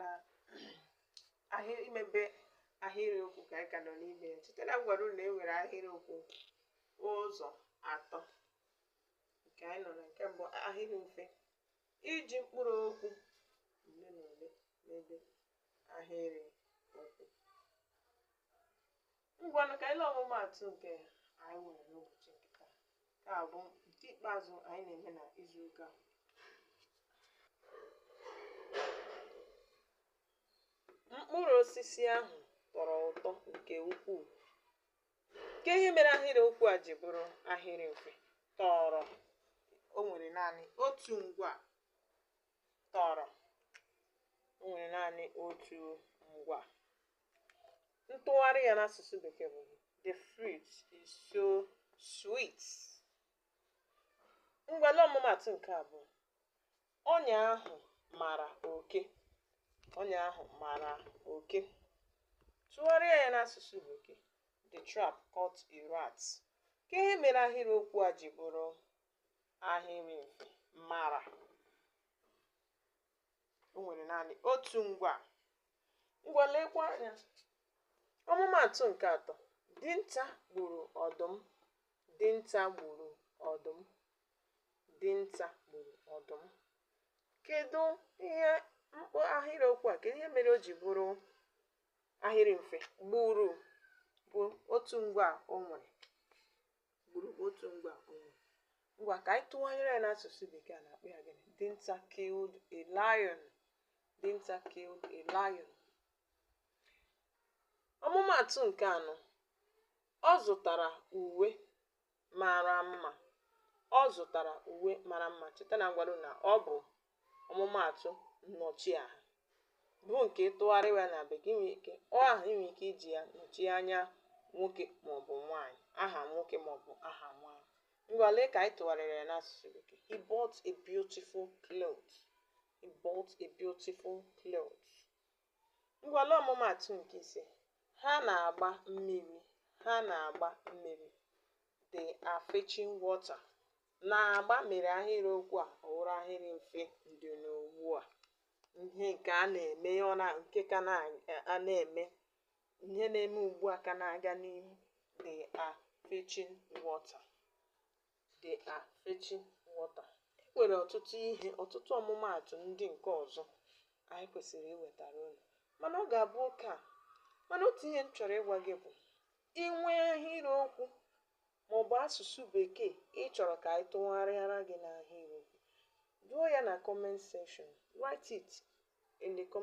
na ahịrị imebe ahịrịokwu ka anyị ka nọ n'ime ya cheta na m gwara unu na e nwere ahịrịokwu ụzọ atọ nke anyị nọ na nke mbụ ahịrị mfe iji mkpụrụ okwu ole na ole mebe ahịrị okwu Ngwanụ ka anyị lee ọmụmaatụ nke anyị nwere n'ụbọchị nke taa. Nke a bụ nke ikpeazụ anyị na-eme na izu ụka a. Mkpụrụ osisi ahụ tọrọ ụtọ nke ukwuu. Kee ihe mere ahịrị okwu a ji bụrụ ahịrị mfe tọrọ o nwere naanị otu ngwa tọrọ o nwere naanị otu ngwa ntụgharị ya n'asụsụ bekee bụ the fruit is so sweet ngwa lee ọmụmaatụ nke abụọ ọnya ahụ mara oke ọnya ahụ mara oke tụgharịa ya n'asụsụ bekee the trap caught a rat kee ihe mere ahịrịokwu a ji bụrụ ahịrị mfe mara o nwere naanị otu ngwa ngwa lekwa anya ọmụmaatụ nke atọ dinta gburu ọdụm dinta gburu ọdụm dinta gburu ọdụm kedu ihe mkpọ ahịrịokwu a kedu ihe mere o ji bụrụ ahịrị mfe gburu bụ otu ngwa o nwere gburu bụ otu ngwa o nwere ngwa ka anyị tụgharịa ya n'asụsụ bekee a na-akpọ ya gịnị dinta killed a lion dinta killed a lion ọmụmaatụ nke anọ ọ zụtara uwe mara mma ọ zụtara uwe mara mma cheta na m gwara unu na ọ bụ ọmụmaatụ nnọchiaha bụ nke ị tụgharịa ya na bekee i nwere ike ọ ahụ i nwere ike iji ya nọchie anya nwoke maọbụ nwaanyị aha nwoke maọbụ aha nwaanyị ngwa lee ka anyị tụgharịrị ya n'asụsụ bekee he bought a beautiful cloth he bought a beautiful cloth Ngwa lee ọmụmaatụ nke ise, ha na-agba mmiri, ha na-agba mmiri. They are fetching water. Na-agba mere ahịrịokwu a ọ wụrụ ahịrị mfe ndị n'ugbu a. Ihe nke a na-eme ọ na nke ka na-eme ihe na-eme ugbu a ka na-aga n'ihu. They are fetching water. they are fetching water e nwere ọtụtụ ihe ọtụtụ ọmụmaatụ ndị nke ọzọ anyị kwesịrị iwetara unu mana ọ ga-abụ oke a mana otu ihe m chọrọ ịgwa gị bụ i nwee ahịrịokwu ma ọ bụ asụsụ bekee ị chọrọ ka anyị tụgharịara gị n'ahịrịokwu duo ya na comment section write it in the comment